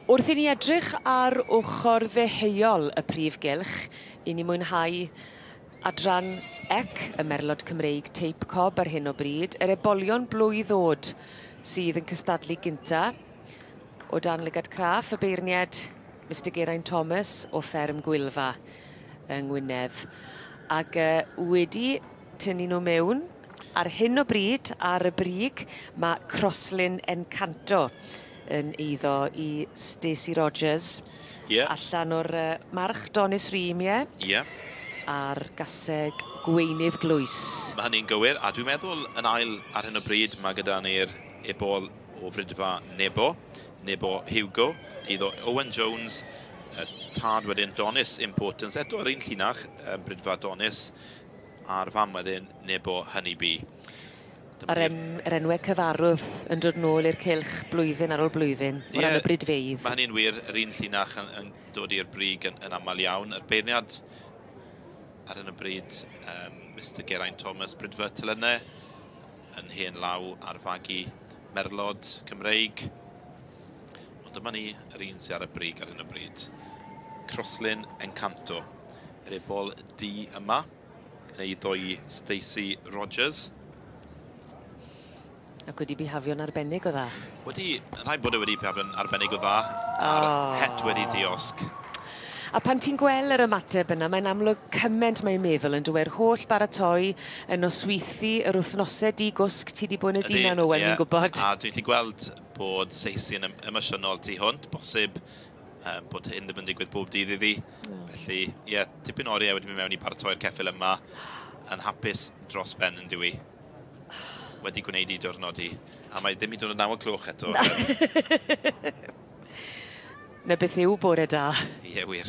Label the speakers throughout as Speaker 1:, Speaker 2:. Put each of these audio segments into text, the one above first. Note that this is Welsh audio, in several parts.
Speaker 1: Wrth i ni edrych ar ochr ddeheuol y prif gylch, i ni mwynhau adran ec y merlod Cymreig teip cob ar hyn o bryd, yr ebolion blwydd oed sydd yn cystadlu gynta. O dan lygad craff y beirniad, Mr Geraint Thomas o fferm Gwylfa. yng Ngwynedd ac yy wedi tynnu nhw mewn. Ar hyn o bryd, ar y brig, mae Crosslyn Encanto yn eiddo i Stacey Rogers. Ie. Allan o'r uh, march Donis Ream, ie? Ie. A'r gaseg Gweinydd Glwys. Mae hynny'n gywir,
Speaker 2: a dwi'n meddwl yn ail ar hyn o bryd mae gyda ni'r ebol o frydfa Nebo. Nebo Hugo, iddo Owen Jones, y tad wedyn Donis Importance, eto yr un llinach, um, Brydfa Donis, a'r fam wedyn Nebo Honeybee. A'r
Speaker 1: en, er enwau cyfarwdd yn dod nôl i'r cilch blwyddyn ar ôl blwyddyn, o ran y brydfeidd. Mae hynny'n wir, yr un
Speaker 2: llinach yn, yn dod i'r brig yn, yn aml iawn. Yr beirniad ar hyn o bryd, um, Mr Geraint Thomas, Brydfa Tylynne, yn hen law ar fagu merlod Cymreig. Ond dyma ni, yr un sydd ar y brig ar hyn o bryd. Croslin Encanto. Yr ebol di yma, yn ei ddoi Stacey Rogers.
Speaker 1: Ac wedi bihafio'n arbennig o dda. Wedi, rhaid bod e
Speaker 2: wedi bihafio'n arbennig o dda. A'r oh. het wedi diosg. A pan
Speaker 1: ti'n gwel yr ymateb yna mae'n amlwg cyment mae meddwl yn dyw'r holl baratoi y nosweithi yr wthnose di gwsg ti di bod yn y dinan Owen fi'n gwbod. Ydi ie a dwi'n gallu gweld
Speaker 2: bod Saesy yn emosiynol tu hwnt bosib yy bod hyn ddim yn digwydd bob dydd iddi felly ie tipyn o oriau wedi mynd mewn i paratoi'r ceffyl yma yn hapus dros ben yn dyw 'i wedi gwneud i diwrnod hi a mae ddim hyd yn oed naw o cloch eto.
Speaker 1: 'Na beth yw bore da. Ie wir.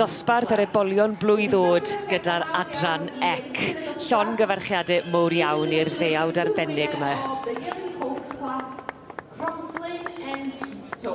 Speaker 1: Dosbarth yr ebolion blwydd ôd gyda'r adran ec. Llongyfarchiade mowr iawn i'r ddeuawd arbennig ma. Diolch yn fawr
Speaker 3: iawn i'r ddeuawd arbennig 'ma. Diolch yn
Speaker 1: fawr iawn i'r
Speaker 3: host class, Croslin and Dito.